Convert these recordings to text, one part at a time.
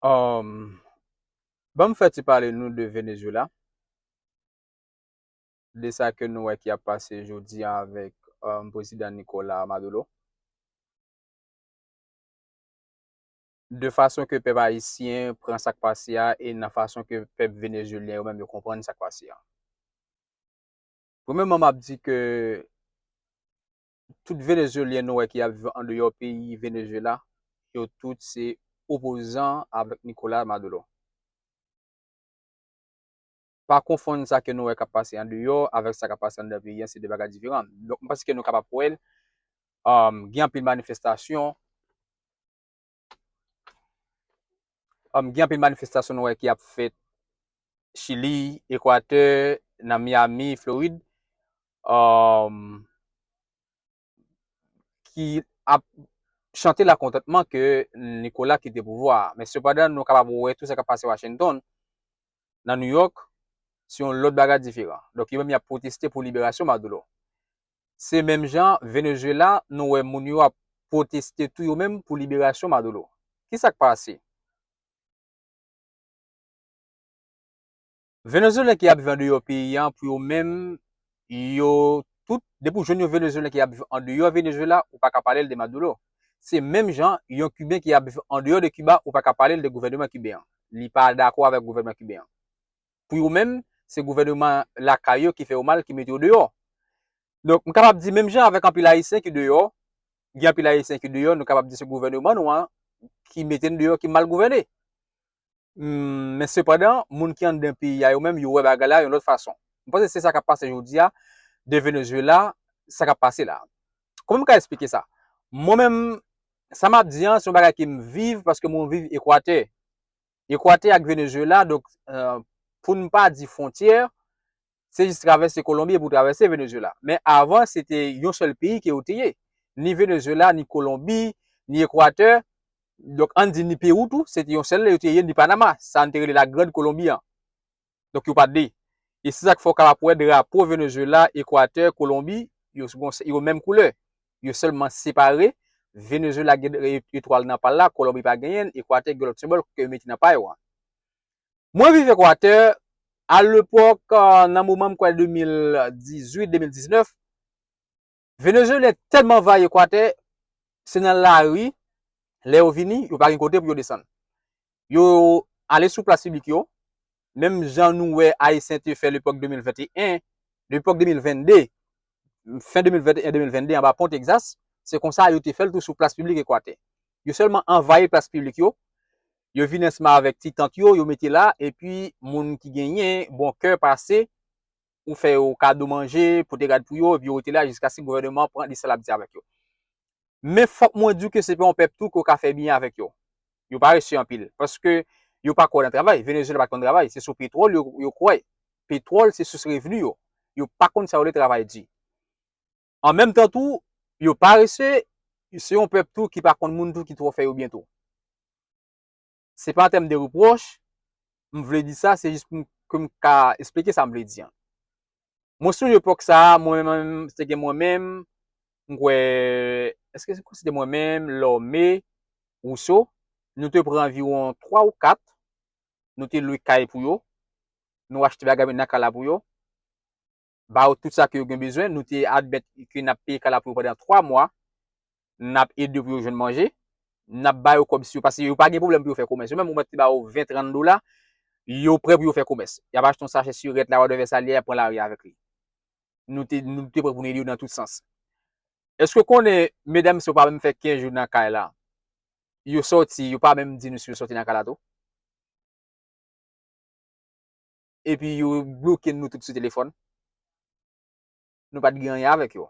Um, ban m fè ti pale nou de Venezuela, de sa ke nou wè ki ap pase jodi an avèk um, Prezidan Nicolas Maduro. de fason ke pèp ayisyen pran sak pase a e nan fason ke pèp venezuelyen yo menm yo konprann sak pase a. Premèman m ap di ke tout Venezuelyen nou wè ki ap viv andeyò peyi Venezuela, yo tout se opozan avèk Nicolas Maduro. Pa konfonn sa ke nou wè k ap pase andeyò avèk sa k ap pase anndan peyi an, se 2 bagay diferan. Donk m panse ke nou kapab wè l, gen anpil manifestasyon, Am gen anpil manifestasyon nou wè ki ap fèt Chili, Ekwatè, nan Miami, Florid. Am ki ap chante la kontantman ke Nikola kite pouvwa. Men sepadan nou kapab wè tou sa kap pase Washington, nan New York, se yon lòt bagay diferan. Donk yo menm yap pwoteste pou liberasyon Maduro. Se menm jan Venezuela nou wè moun yo ap pwoteste tou yo menm pou liberasyon Maduro. Kisa k pase? Venezuelen ki ap viv andeyò peyi an pou yo menm yo tout depi w jwenn yon Venezuelen ki ap viv andeyò Venezuela ou pa ka pale l de Maduro. Se menm jan yon Kiben ki ap viv andeyò de Kiba ou pa ka pale l de gouvèneman Kiben an. Li pa dakò avèk gouvènman Kiben an. pou yo menm, se gouvèneman lakay yo ki fè yo mal, ki mete yo deyò. Donk, m kapab di menm jan avèk anpil Ayisyen ki deyò, gen anpil Ayisyen ki deyò, nou kapab di se gouvèneman nou an ki mete n deyò, ki mal gouvène. Men sepandan, moun ki anndan peyi a yo menm, yo wè bagay la yon lòt fason. M panse se sa k ap pase jodi a, de Venezuela, sa k ap pase la. Kouman m ka esplike sa? Mwen menm, sa m ap di an, se yon bagay ke m viv, paske mwen viv Ekwatè. Ekwatè ak Venezuela, donk pou n pa di fwontyè, se jis travèse Kolonbi epi w travèse Venezuela. Men avan se te yon sèl peyi ke yo te ye. Ni Venezuela, ni Kolonbi, ni Ekwatè, donk an n di ni Pewou tou, se te yon sèl, yo te ye ni Panama, sa n te rele la Grand Kolonbi an. Donk yo pa 2. E se sa k fè w kapab wè drapo Venezuela, Equateur, Colombie yo gon yo menm koulè. Yo sèlman separe, Venezuela gen etwal nan pa l la, Colombie pa genyen l, Equateur gen lòt senbòl ke yo mete nan pa yo a. Mwen viv Equateur, alepòk nan moman m kwè 2018, 2019, Venezuelyen tèlman anvayi Ekwatè, se nan lari, lè yo vini, yo pa gen kote pou yo desann. Yo ale sou plas piblik yo, menm jan nou wè Ayisyen te fè lepòk 2021, lepòk 2022, fen 2021, 2022 anba pon Tegzas, se konsa yo te fè l tou sou plas piblik Ekwatè. Yo sèlman anvayi plas piblik yo, yo vini ansanm avèk ti tant yo, yo mete la, epi moun ki genyen bon kè pase, ou fè yo kado manje, pote rad pou yo, epi yo rete la jiskaske gouvèneman an pran desizyon l ap di avèk yo. Men fòk mwen di w ke se pa yon pèp tou ke w ka fè byen avèk yo. Yo parese anpil, paske yo pa kwè nan travay. Venezyela pa t konn travay, se sou petwòl yo yo kwè. Petwòl se sous revni yo. Yo pa konn sa yo rele travay di. An menm tan tou, yo parese, se yon pèp tou ki pa konn moun tou ki twò fè yo byen tou. Se pa an tèm de repwòch, m vle di sa, se jis pou m ka esplike sa m vle di an. Mwen sonje epòk sa a, mwen menm, se te gen mwen menm, m kwè, èske se te mwen menm, Lòme, Wouso, nou te pran anviwon 3 ou 4, nou te lwe kay pou yo, nou achte bagay nan kay la pou yo. ba yo tout sa ke yo gen bezwen, nou te admèt ke n ap peye kay la pou yo pandan 3 mwa, n ap ede yo pou yo jwenn manje, n ap ba yo kòb si yo, paske yo pa gen pwoblèm pou yo fè komès, yo menm ou mèt te ba yo 20, 30 dola, yo prè pou yo fè komès, y ap achte yon sachè sirèt la, wòdevè sa li ye, y ap pran lari avèk li. Nou te, nou te prè pou nou ede yo nan tout sans. Èske w konnen, medam sa yo pa menm fè 15 jou nan kay la, yo sòti, yo pa menm di nou si yo sòti nan kay la tou. epi yo bloke nou tout sou telefòn, nou pat gen anyen avèk yo.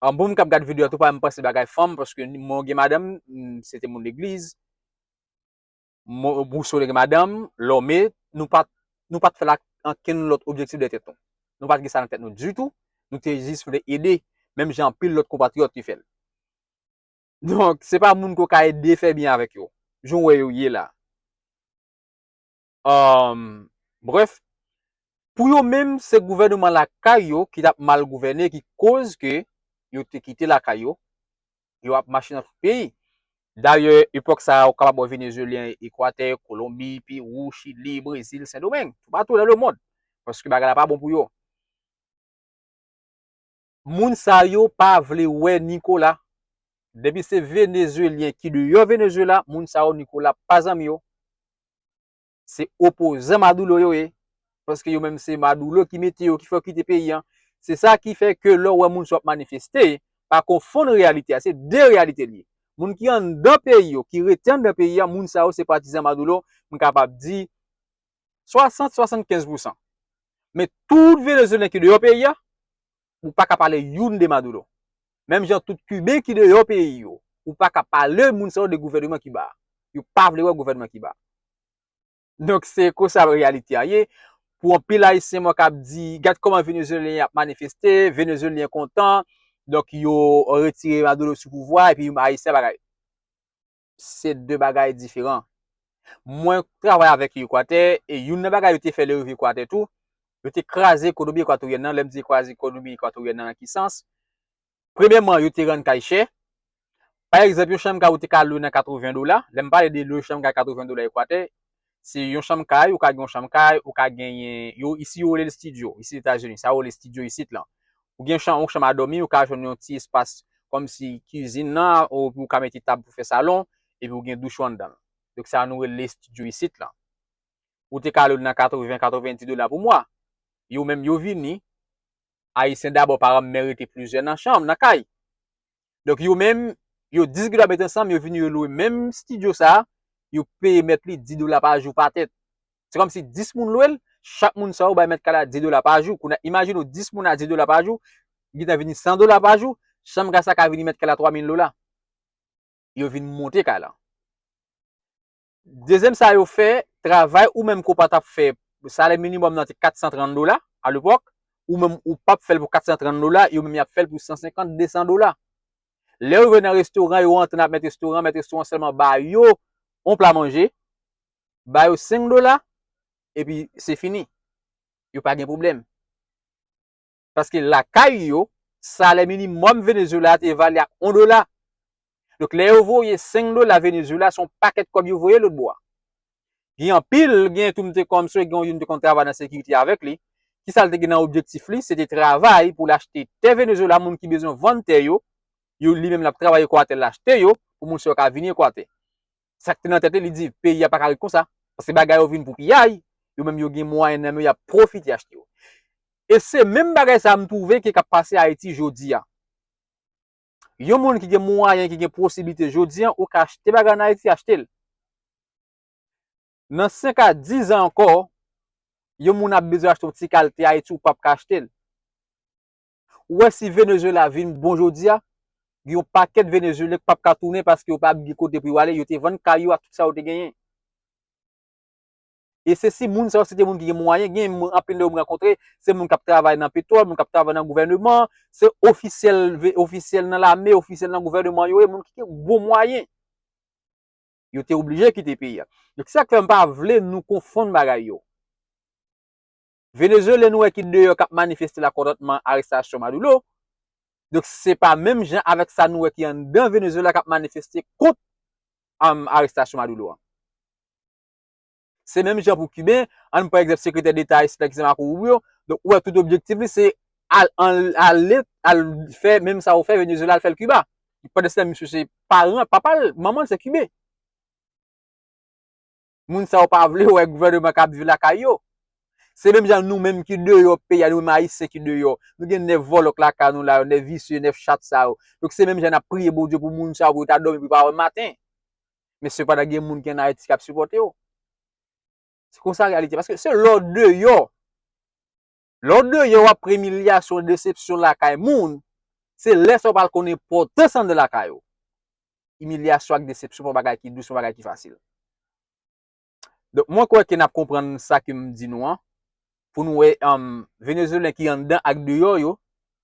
An bon m kap gad video a tou pa janm panse bagay fanm paske mwen gen madanm, se te moun legliz, Rousseau te gen madanm, Lorme, nou pat nou pat fè l ak ankenn lòt objektif dèyè tèt nou. Nou pat gen sa nan tèt nou ditou, nou te jis vle ede menm jan anpil lòt konpatriyòt te fè l. Donk se pa moun ke w ka ede fè byen avèk yo, jan w wè yo ye la. Umm bref pou yo menm se gouvèneman lakay yo ki tap mal gouvène ki koz ke yo te kite lakay yo, yo ap mache nan tout peyi. Dayè epòk sa ou kapab wè Venezuelyen Ekwatè, Kolonbi, Perou, Chili, Brezil, Sendomeng, toupatou nan lemond paske bagay la pa bon pou yo. Moun sa yo pa vle wè Nicolas. Depi se Venezuelien ki deyò Venezuela, moun sa yo Nicolas pa zanmi yo. Se opozan Madoulo yo ye. Paske yo menm se Madoulo ki mete yo, ki fè yo kite peyi an. Se sa ki fè ke lè w wè moun sa yo ap manifeste, pa konfonn reyalite a. Se de reyalite li ye. Moun ki anndan peyi yo, ki rete anndan peyi an, moun sa yo se patizan Madoulo. M kapab di, 60, 75 pousan. Men tout Venezuelen ki deyò peyi a, ou pa ka pale youn de Maduro. Menm jan tout Kiben ki deyò peyi yo, ou pa ka pale moun sa yo de gouvèneman Kiba a. Yo pa vle wè gouvèneman Kiba a. Donk se konsa reyalite a ye. Pou anpil Ayisyen mwen kab di, gad kòman Venezuelen ap manifeste, Venezuelen kontan, donk yo retire Maduro sou pouvwa epi Ayisyen pa ka. se de bagay diferan. Mwen travay avèk Ekwatè, e youn nan bagay yo te fè lè yo rive Ekwatè tou, yo te kraze ekonomi ekwatoryèn nan, lè m di kraze ekonomi ekwatoryèn nan nan ki sans? Premyèman, yo te rann kay chè, pa egzanp yon chanm kay ou te ka lwe nan 80 dola, lè m pale de lwe chanm kay 80 dola Ekwatè, Se yon chanm kay, ou ka gen yon chanm kay, ou ka genyen, yo isi yo rele l stidyo, isi Etazini, sa yo rele stidyo isit lan. Ou gen chanm, yon chanm a dòmi, ou ka jwenn yon ti espas kòmsi kizin nan, ou pou ou ka mete tab pou fè salon, epi ou gen douch ou anndan l. Donk sa nou rele stidyo isit lan. Ou te ka lwe l nan 80, 90 dola pou mwa. Yo menm yo vini, Ayisyen dabò pa renmen rete plizyè nan chanm, nan kay. Donk yo menm, yo 10 granm met ansanm, yo vini yo lwe menm stidyo sa, yo peye mèt li 10 dola pa jou pa tèt. Se kòm si 10 moun lwe l, chak moun sa yo bay mèt kay la 10 dola pa jou. Kounye a, imajine w 10 moun a 10 dola pa jou, li gentan vini 100 dola pa jou, chanm kay sa ka vini mèt kay la 3 mil dola. Yo vin monte kay la. Dezyèm sa yo fè travay ou menm ke w pa tap fè, salè minimòm nan te 430 dola a lepòk, ou menm ou pap fè l pou 430 dola, yo menm yap fè l pou 150, 200 dola. Lè yo rive nan restoran, yo rantre nan mèt restoran an, mèt restoran an sèlman ba yo yon pla manje, ba yo 5 dola, epi se fini. Yo pa gen pwoblèm. Paske lakay yo, salè minimòm Venezuela a te evalye a 1 dola. Donk lè yo voye 5 dola Venezuela se yon pakèt kòb yo voye lòtbò a. Gen anpil, gen tou m te konn mswe gen yon youn m te konn travay nan sekirite avèk li, ki sa l te gen nan objektif li, se te travay pou l achte tè Venezuela moun ki bezwen vann tè yo, yo li menm l ap travay Ekwatè l achte yo pou moun sa yo ka vini Ekwatè. sa k te nan tèt li, li di peyi a pa ka ret konsa, paske bagay yo vin pou piyay, yo menm yo gen mwayen nan men yo, y ap pwofite achte yo. E se menm bagay sa a m twouve ke k ap pase Ayiti jodi a. Yon moun ki gen mwayen, ki gen posiblite jodi a, ou ka achte bagay an Ayiti, achte l. Nan senk a dizan ankò, yon moun ap bezwen achte yon ti kalte Ayiti, ou p ap ka achte l. Ou wè si Venezuela vin bon jodi a, gen yon pakèt Venezuelyen k pap ka tounen paske yo pap gen kote pou yo ale, yo te vann kay yo ak tout sa yo te genyen. E se si moun sa yo se te moun ki gen mwayen, gen moun anpil nan yo m rankontre, se moun k ap travay nan petwòl, moun k ap travay nan gouvèneman, se ofisyèl, ofisyèl nan lame, ofisyèl nan gouvèneman yo ye, moun ki gen bon mwayen. Yo te oblije kite peyi a. Donk se sa k fè m pa vle nou konfonn bagay yo. Venezuelen nou wè ki deyò kap manifeste la kontantman arestasyon Maduro. Donk se pa menm jan avèk sa nou wè ki anndan Venezuela kap manifeste kont arestasyon Maduro an. Se menm jan pou Kiben, ann pran egzanp sekretè deta ayisyen ki se Marco Rubio, donk ou wè tout objektif li se al ale al fè menm sa yo fè Venezuela al fèl Kiba. Pandanstan misye se paran, papal, manmanl se Kiben. moun sa yo pa vle wè gouvèneman k ap viv lakay yo. Se menm jan nou menm ki deyò peyi a, nou menm Ayisyen ki deyò, nou gen 9 vòlò k lakay nou la yo, 9 visye, 9 chat sa yo. Donk se menm jan n ap priye Bondye pou moun sa yo pou yo ta dòmi pou yo pa wè maten. Men sepandan gen moun ki ann Ayiti k ap sipòte yo. Se konsa reyalite. Paske se lè w deyò. Lè w deyò w ap pran imilyasyon, desepsyon lakay moun, se lè sa w pral konn enpòtans anndan lakay ou. Imilyasyon ak desepsyon pa bagay ki dous, pa bagay ki fasil. Donk mwen kwè ke n ap konprann sa ke m di nou an, pou nou wè Venezuelen ki anndan ak deyò yo,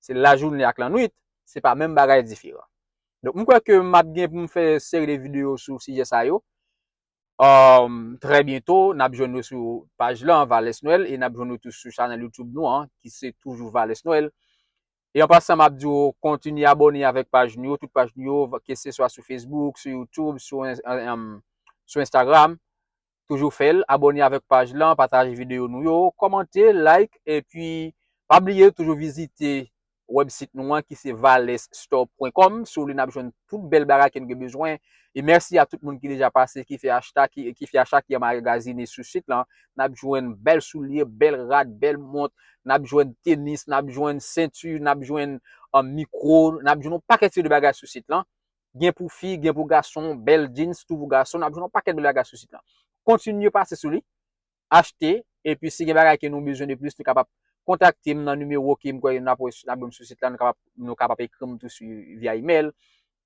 se lajounen ak lannwit, se pa menm bagay diferan. Donk m kwè ke m ap gen pou m fè seri de videyo sou sijè sa yo. Um, trè byento, nap jwenn nou sou paj lan, Vales Noel, e nap jwenn nou tou sou chanèl YouTube nou an, ki se toujou Vales Noel. E an pasan map di ou, kontinye abone avèk paj nou yo, tout paj nou yo, ke se swa sou Facebook, sou YouTube, sou, um, sou Instagram. Toujou fèl, abone avèk paj lan, pataje videyo nou yo, kòmante, like, epi pa bliye toujou vizite web site nou an ki se valesstore pwen kòm sou li nap jwenn tout bèl bagay ke nou gen bezwen e mèsi a tout moun ki deja pase ki fè achta ki fè acha ki anmagazine sou site lan nap jwenn bèl soulye bèl rad bèl mont nap jwenn tenis nap jwenn sentu nap jwenn an mikro nap jwenn yon pakèt seri de bagay sou site lan gen pou fi gen pou gason bèl djins tou pou gason nap jwenn yon pakèt bèl bagay sou site lan kontinye pase sou li achte epi si gen bagay ke nou bezwen de plis nou kapab kontakte m nan nimewo ke m kwè ke nap wè nap jwenn sou sit la nou kapab ekri m tou sou via email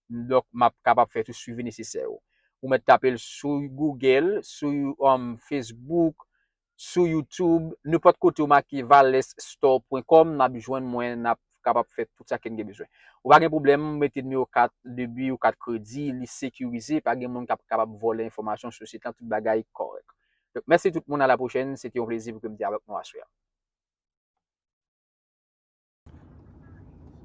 donk map kapab fè tout swivi nesesè yo. Ou mèt tape l sou Google, sou Facebook, sou YouTube, nenpòt kote ou make valesstore.com nap jwenn mwen nap kapab fè tout sa ke n gen bezwen. Ou pa gen pwoblèm mete nimewo kat debi ou kat kredi li sekirize pa gen moun kap kapab vòlè enfòmasyon sou sit la tout bagay kòrèk. Donk mèsi tout moun a la pwochèn, se te yon plezi pou ke m te avèk nou aswè a.